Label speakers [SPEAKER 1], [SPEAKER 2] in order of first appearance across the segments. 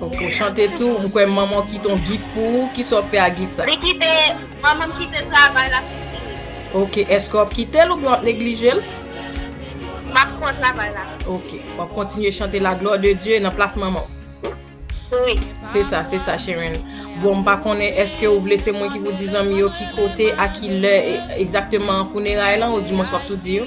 [SPEAKER 1] Ok ou chante
[SPEAKER 2] tou, m kwè manmanw kite yon gif pou ou, kisa wap fè ak gif sa? Li kite,
[SPEAKER 1] manmanm kite travay la pou m fini. Ok,
[SPEAKER 2] eske wap kitel oubyen wap neglijel?
[SPEAKER 1] Map pran travay la. Ok, wap kontinye
[SPEAKER 2] chante la glwa de Dye nan plas manmanw?
[SPEAKER 1] Wi. Se sa, se
[SPEAKER 2] sa cheren. Bon m pa konnen eske ou vle se mwen ki pou di zanmi yo ki kote a ki lè egzakteman funeray lan ou dimwens wap tou di yo?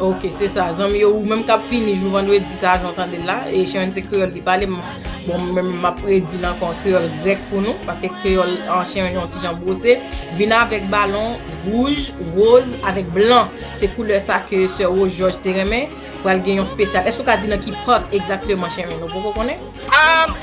[SPEAKER 1] Ok se sa zanmi yo
[SPEAKER 2] ou menm kap fini jou vendredi sa jan w tande l la e Sharon se kreyòl li pale bon mwen menm map redi l ankò an kreyòl grèk pou nou paske kreyòl Sharon yon ti jan bwose vin avèk balon wouj woz avèk blan se koulè sa ke sè Rosjòj te renmen pral gen yon spesyal èske w ka di nan ki park egzakteman Sharon ou poko konnen?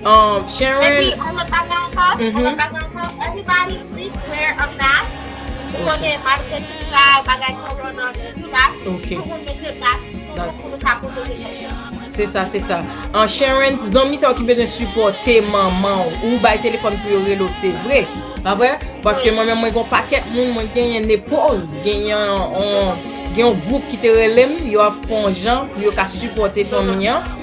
[SPEAKER 2] Um, Sharon. Epi, on lòt bagay ankò, on mm-hmm.
[SPEAKER 1] lòt bagay ankò, everybody please wear a mask. Pou kote
[SPEAKER 2] mask chirurgical, bagay corona, tout sa. Ok. Pou moun mete mask, pou nou ka pwoteje tèt nou. Se sa, se sa. An Sharon, zanmi sa w ki bezwen supporte manman w, ou bay telefon pou yo relo, se vre. Pa vre? Paske mwen mwen kon paket moun, mwen gen yon nepoz, gen yon group ki te relem, yo ap fon jan pou yo ka supporte fanmi an.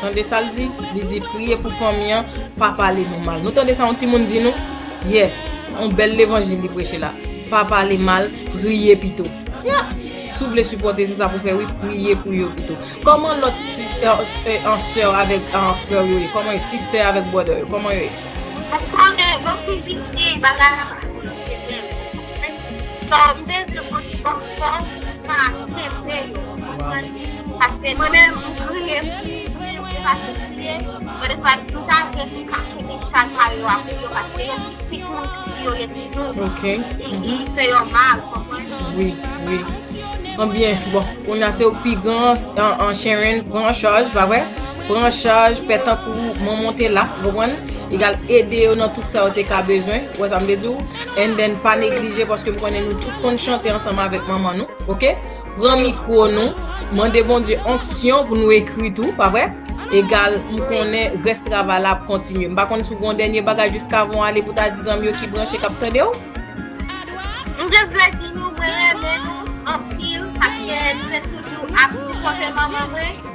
[SPEAKER 2] Tande sal di li di priye pou fanmi an pa pale nou mal nou tande sa yon timoun di nou yes yon bèl levanjil li preche la pa pale mal priye pito yap si w vle sipòte se sa pou fè wi priye pou yo pito kòman lòt sè avèk frè yo ye kòman yo sister avèk brother yo kòman yo ye. Ou konnen yo ki vini bagay la pa konn se menm ou konprann sa m vle di m konn di bòkò pa kenbe yo ou konprann. Paske mwen menm m kriye si m te pase kriye mwen de fwa m ta vle pou m ka kenbe chaj mari yo avèk yo paske yo pitit moun ki di yo ye toujou e ki fè yo mal ou konprann. Anbyen bon kounya se ou ki pi gran an Sharon pran an chaj pa vre pran an chaj fè tankou manman w te la ou konprann egal ede yo nan tout sa yo te ka bezwen ou wè sa m vle di w and then pa neglije paske m konnen nou tout konn chante ansanm avèk manman nou ok. pran mikro nou mande Bondye onksyon pou nou ekri tou pa vre egal m konnen res travay la ap kontinye m pa konnen sou gon dènye bagay jiskavan ale pou ta di zanmi yo ki branche kap tande w.
[SPEAKER 1] M just vle di nou mwen renmen nou anpil paske m te toujou ap sipòte manman mwen.